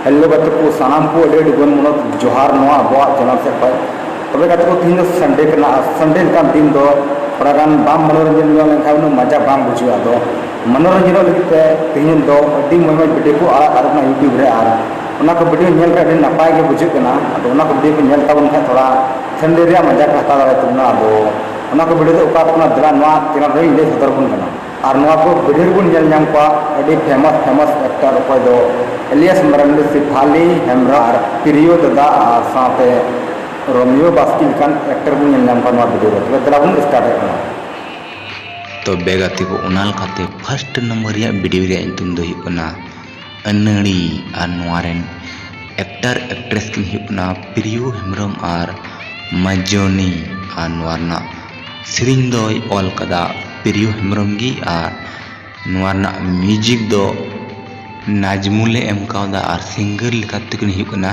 Hello ᱜᱟᱛᱮ ᱠᱚ ᱥᱟᱱᱟᱢ ᱠᱚ ᱟᱹᱰᱤ ᱟᱹᱰᱤ ᱜᱩᱱ ᱢᱚᱱᱚᱛ ᱡᱚᱦᱟᱨ ᱱᱚᱣᱟ ᱟᱵᱚᱣᱟᱜ ᱪᱮᱱᱮᱞ ᱥᱮᱫ ᱠᱷᱚᱱ ᱛᱚᱵᱮ ᱜᱟᱛᱮ ᱠᱚ ᱛᱤᱦᱤᱧ ᱫᱚ ᱥᱟᱱᱰᱮ ᱠᱟᱱᱟ ᱟᱨ ᱥᱟᱱᱰᱮ ᱞᱮᱠᱟᱱ ᱫᱤᱱ ᱫᱚ ᱛᱷᱚᱲᱟ ᱜᱟᱱ ᱵᱟᱢ ᱢᱚᱱᱳᱨᱚᱧᱡᱚᱱ ᱧᱚᱜ ᱞᱮᱱᱠᱷᱟᱱ ᱩᱱᱟᱹᱜ ᱢᱟᱡᱟ ᱵᱟᱝ ᱵᱩᱡᱷᱟᱹᱜᱼᱟ ᱟᱫᱚ ᱢᱚᱱᱳᱨᱚᱧᱡᱚᱱᱚᱜ ᱞᱟᱹᱜᱤᱫ ᱛᱮ ᱛᱤᱦᱤᱧ ᱫᱚ ᱟᱹᱰᱤ ᱢᱚᱡᱽ ᱢᱚᱡᱽ ᱵᱷᱤᱰᱤᱭᱳ ᱠᱚ ᱟᱲᱟᱜ ᱟᱠᱟᱫᱟ ᱤᱭᱩᱴᱩᱵᱽ ᱨᱮ ᱟᱨ ᱚᱱᱟ ᱠᱚ ᱵᱷᱤᱰᱤᱭᱳ ᱧᱮᱞ ᱠᱷᱟᱱ ᱟᱹᱰᱤ ᱱᱟᱯᱟᱭ ᱜᱮ ᱵᱩᱡᱷᱟᱹᱜ ᱠᱟᱱᱟ ᱟᱫᱚ ᱚᱱᱟ ᱠᱚ ᱵᱷᱤᱰᱤᱭᱳ ᱠᱚ ᱧᱮᱞ ᱛᱟᱵᱚᱱ ᱠᱷᱟᱱ ᱛᱷᱚᱲᱟ ᱯᱷᱮᱢᱤᱞᱤ ᱨᱮᱭᱟᱜ ᱢᱟᱡᱟ ᱠᱚ ᱦᱟᱛᱟᱣ ᱫᱟᱲᱮᱭᱟᱜ ᱛᱟᱵᱚᱱᱟ ᱟᱫᱚ ᱚᱱᱟ ᱠᱚ ᱵᱷᱤᱰᱤᱭᱳ ᱫᱚ ᱚᱠᱟ ᱠᱟᱱᱟ ᱫᱮᱞᱟ ᱱᱚᱣᱟ ᱪᱮᱱᱮᱞ ᱨᱮᱧ ᱞᱟᱹᱭ ᱥᱚᱫᱚᱨ ᱟᱵᱚᱱ ᱠᱟᱱᱟ ᱟᱨ ᱱᱚᱣᱟ ᱠᱚ ᱵᱷᱤᱰᱤᱭᱳ ᱨᱮᱵᱚᱱ ᱧᱮᱞ ᱧᱟᱢ ᱠᱚᱣᱟ ᱟᱹᱰᱤ ᱯᱷᱮᱢᱟᱥ ᱯᱷᱮᱢᱟᱥ ᱮᱠᱴᱟᱨ ᱚᱠᱚᱭ ᱫᱚ ᱮᱞᱤᱭᱟᱥ ᱢᱟᱨᱟᱱᱰᱤ ᱥᱤᱯᱷᱟᱞᱤ ᱦᱮᱢᱵᱨᱚᱢ ᱟᱨ ᱯᱨᱤᱭᱳ ᱫᱟᱫᱟ ᱟᱨ ᱥᱟᱶᱛᱮ ᱨᱳᱢᱤᱭᱳ ᱵᱟᱥᱠᱤ ᱞᱮᱠᱟᱱ ᱮᱠᱴᱟᱨ ᱵᱚᱱ ᱧᱮᱞ ᱧᱟᱢ ᱠᱚᱣᱟ ᱱᱚᱣᱟ ᱵᱷᱤᱰᱤᱭᱳ ᱨᱮ ᱛᱚᱵᱮ ᱫᱮᱞᱟ ᱵᱚᱱ ᱥᱴᱟᱨᱴ ᱮᱫ ᱠᱟᱱᱟ ᱛᱚᱵᱮ ᱜᱟᱛᱮ ᱠᱚ ᱚᱱᱟ ᱞᱮᱠᱟᱛᱮ ᱯᱷᱟᱥᱴ ᱱᱟᱢᱵᱟᱨ ᱨᱮᱭᱟᱜ ᱵᱷᱤᱰᱤᱭᱳ ᱨᱮᱭᱟᱜ ᱧᱩᱛᱩᱢ ᱫᱚ ᱦᱩᱭᱩᱜ ᱠᱟᱱᱟ ᱟᱹᱱᱟᱹᱲᱤ ᱟᱨ ᱱᱚᱣᱟ ᱨᱮᱱ ᱮᱠᱴᱟᱨ ᱮᱠᱴᱨᱮᱥ ᱠᱤᱱ ᱦᱩᱭᱩᱜ ᱠᱟᱱᱟ ᱯᱨᱤᱭᱳ ᱦᱮᱢᱵᱨᱚᱢ ᱟᱨ ᱢᱟᱡᱚᱱᱤ ᱟᱨ ᱱᱚᱣᱟ ᱨᱮᱱᱟᱜ ᱥᱮᱨᱮᱧ ᱫᱚᱭ ᱚᱞ ᱠᱟᱫᱟ ᱯᱨᱤᱭᱳ ᱦᱮᱢᱵᱨᱚᱢ ᱜᱮ ᱟᱨ ᱱᱚᱣᱟ ᱨᱮᱱᱟᱜ ᱢᱤᱭᱩᱡᱤᱠ ᱫᱚ ᱱᱟᱡᱽᱢᱩᱞᱮ ᱮᱢ ᱠᱟᱣᱫᱟ ᱟᱨ ᱥᱤᱝᱜᱟᱨ ᱞᱮᱠᱟᱛᱮ ᱠᱤᱱ ᱦᱩᱭᱩᱜ ᱠᱟᱱᱟ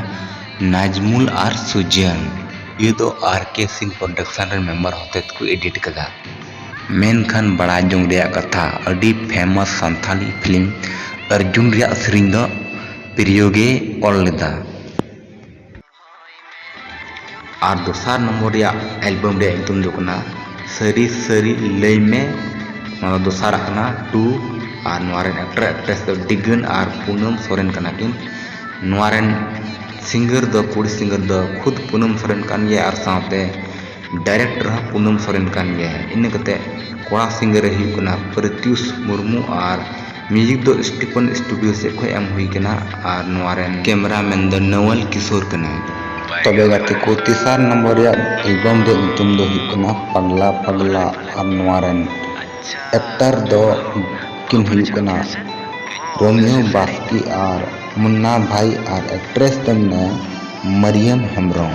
ᱱᱟᱡᱽᱢᱩᱞ ᱟᱨ ᱥᱩᱡᱟᱱ ᱱᱤᱭᱟᱹ ᱫᱚ ᱟᱨ ᱠᱮ ᱥᱤᱝ ᱯᱨᱚᱰᱟᱠᱥᱚᱱ ᱨᱮᱱ ᱢᱮᱢᱵᱟᱨ ᱦᱚᱛᱮᱛ ᱠᱚ ᱮᱰᱤᱴ ᱠᱟᱫᱟ ᱢᱮᱱᱠᱷᱟᱱ ᱵᱟᱲᱟᱭ ᱡᱚᱝ ᱨᱮᱭᱟᱜ ᱠᱟᱛᱷᱟ ᱟᱹᱰᱤ ᱯᱷᱮᱢᱚᱥ ᱥᱟᱱᱛᱷᱟᱞᱤ ᱯᱷᱤᱞᱢ ᱟᱨᱡᱩᱱ ᱨᱮᱭᱟᱜ ᱥᱮᱨᱮᱧ ᱫᱚ ᱯᱨᱤᱭᱳ ᱜᱮᱭ ᱚᱞ ᱞᱮᱫᱟ᱾ ᱟᱨ ᱫᱚᱥᱟᱨ ᱱᱚᱢᱵᱚᱨ ᱨᱮᱭᱟᱜ ᱮᱞᱵᱚᱢ ᱨᱮᱭᱟᱜ ᱧᱩᱛᱩᱢ ᱫᱚ ᱦᱩᱭᱩᱜ ᱠᱟᱱᱟ ᱥᱟᱹᱨᱤ ᱥᱟᱹᱨᱤ ᱞᱟᱹᱭ ᱢᱮ ᱱᱚᱣᱟ ᱫᱚ ᱫᱚᱥᱟᱨ ᱟᱜ ᱠᱟᱱᱟ ᱴᱩ ᱟᱨ ᱱᱚᱣᱟ ᱨᱮᱱ ᱮᱠᱴᱚᱨ ᱮᱠᱴᱨᱮᱥ ᱫᱚ ᱰᱤᱜᱟᱹᱱ ᱟᱨ ᱯᱩᱱᱚᱢ ᱥᱚᱨᱮᱱ ᱠᱟᱱᱟ ᱠᱤᱱ᱾ ᱱᱚᱣᱟ ᱨᱮᱱ ᱥᱤᱝᱜᱟᱨ ᱫᱚ ᱠᱩᱲᱤ ᱥᱤᱝᱜᱟᱨ ᱫᱚ ᱠᱷᱩᱫᱽ ᱯᱩᱱᱚᱢ ᱥᱚᱨᱮᱱ ᱠᱟᱱ ᱜᱮᱭᱟᱭ ᱟᱨ ᱥᱟᱶᱛᱮ ᱰᱟᱭᱨᱮᱠᱴᱚᱨ ᱦᱚᱸ ᱯᱩᱱᱚᱢ ᱥᱚᱨᱮᱱ ᱠᱟᱱ ᱜᱮᱭᱟᱭ᱾ ᱤᱱᱟᱹ ᱠᱟᱛᱮ ᱠᱚᱲᱟ ᱥᱤᱝᱜᱟᱨ ᱮ ᱦᱩᱭᱩᱜ ᱠᱟᱱᱟ ᱯᱨᱤᱛᱭᱩᱥ ᱢᱩᱨᱢᱩ ᱟᱨ ᱢᱤᱭᱩᱡᱤᱠ ᱫᱚ ᱥᱴᱤᱯᱷᱚᱱ ᱥᱴᱩᱰᱤᱭᱳ ᱥᱮᱫ ᱠᱷᱚᱱ ᱮᱢ ᱦᱩᱭ ᱠᱟᱱᱟ ᱟᱨ ᱱᱚᱣᱟ ᱨᱮᱱ ᱠᱮᱢᱮᱨᱟ ᱢᱮᱱ ᱫᱚ ᱱᱚᱣᱮᱞ ᱠᱤᱥᱳᱨ ᱠᱟᱱᱟᱭ᱾ ᱛᱚᱵᱮ ᱜᱟᱛᱮ ᱠᱚ ᱛᱮᱥᱟᱨ ᱱᱚᱢᱵᱚᱨ ᱨᱮᱭᱟᱜ ᱮᱞᱵᱚᱢ ᱨᱮᱭᱟᱜ ᱧᱩᱛᱩᱢ ᱫᱚ ᱦᱩᱭᱩᱜ ᱠᱟᱱᱟ ᱯᱟᱜᱽᱞᱟ ᱯᱟᱜᱽᱞᱟ ᱟᱨ ᱱᱚᱣᱟ ᱨᱮᱱ ᱮᱠᱴᱚᱨ ᱫᱚ ᱠᱤᱱ ᱦᱩᱭᱩᱜ ᱠᱟᱱᱟ ᱨᱳᱢᱤᱭᱳ ᱵᱟᱥᱠᱮ ᱟᱨ ᱢᱩᱱᱱᱟ ᱵᱷᱟᱭ ᱟᱨ ᱮᱠᱴᱨᱮᱥ ᱫᱚ ᱢᱮᱱᱟᱭᱟ ᱢᱟᱨᱤᱭᱟᱢ ᱦᱮᱢᱵᱽᱨᱚᱢ᱾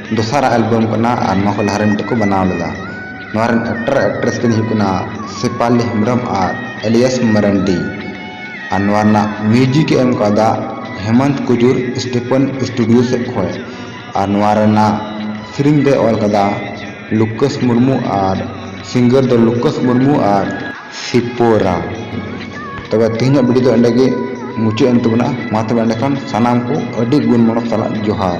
ᱫᱚᱥᱟᱨᱟᱜ ᱮᱞᱵᱚᱢ ᱠᱟᱱᱟ ᱟᱨ ᱱᱚᱣᱟ ᱠᱷᱚᱱ ᱞᱟᱦᱟ ᱨᱮ ᱢᱤᱫᱴᱮᱱ ᱠᱚ ᱵᱮᱱᱟᱣ ᱞᱮᱫᱟ ᱱᱚᱣᱟ ᱨᱮᱱ ᱮᱠᱴᱟᱨ ᱟᱨ ᱮᱠᱴᱨᱮᱥ ᱠᱤᱱ ᱦᱩᱭᱩᱜ ᱠᱟᱱᱟ ᱥᱮᱯᱷᱟᱞᱤ ᱦᱮᱢᱵᱨᱚᱢ ᱟᱨ ᱮᱞᱤᱭᱟᱥ ᱢᱟᱨᱟᱱᱰᱤ ᱟᱨ ᱱᱚᱣᱟ ᱨᱮᱱᱟᱜ ᱢᱤᱭᱩᱡᱤᱠ ᱮ ᱮᱢ ᱠᱟᱣᱫᱟ ᱦᱮᱢᱚᱱᱛ ᱠᱩᱡᱩᱨ ᱥᱴᱤᱯᱷᱟᱱ ᱥᱴᱩᱰᱤᱭᱳ ᱥᱮᱫ ᱠᱷᱚᱱ ᱟᱨ ᱱᱚᱣᱟ ᱨᱮᱱᱟᱜ ᱥᱮᱨᱮᱧ ᱫᱚᱭ ᱚᱞ ᱠᱟᱫᱟ ᱞᱩᱠᱟᱥ ᱢᱩᱨᱢᱩ ᱟᱨ ᱥᱤᱝᱜᱟᱨ ᱫᱚ ᱞᱩᱠᱟᱥ ᱢᱩᱨᱢᱩ ᱟᱨ ᱥᱤᱯᱳᱨᱟ ᱛᱚᱵᱮ ᱛᱮᱦᱮᱧᱟᱜ ᱵᱷᱤᱰᱤᱭᱳ ᱫᱚ ᱮᱸᱰᱮ ᱜᱮ ᱢᱩᱪᱟᱹᱫ ᱮᱱ ᱛᱟᱵᱚᱱᱟ ᱢᱟ ᱛᱚᱵᱮ ᱮᱸᱰᱮᱠᱷᱟᱱ ᱥᱟᱱᱟᱢ ᱠᱚ ᱟᱹᱰᱤ ᱜᱩᱱ ᱢᱚᱱᱚᱛ ᱥᱟᱞᱟᱜ ᱡᱚᱦᱟᱨ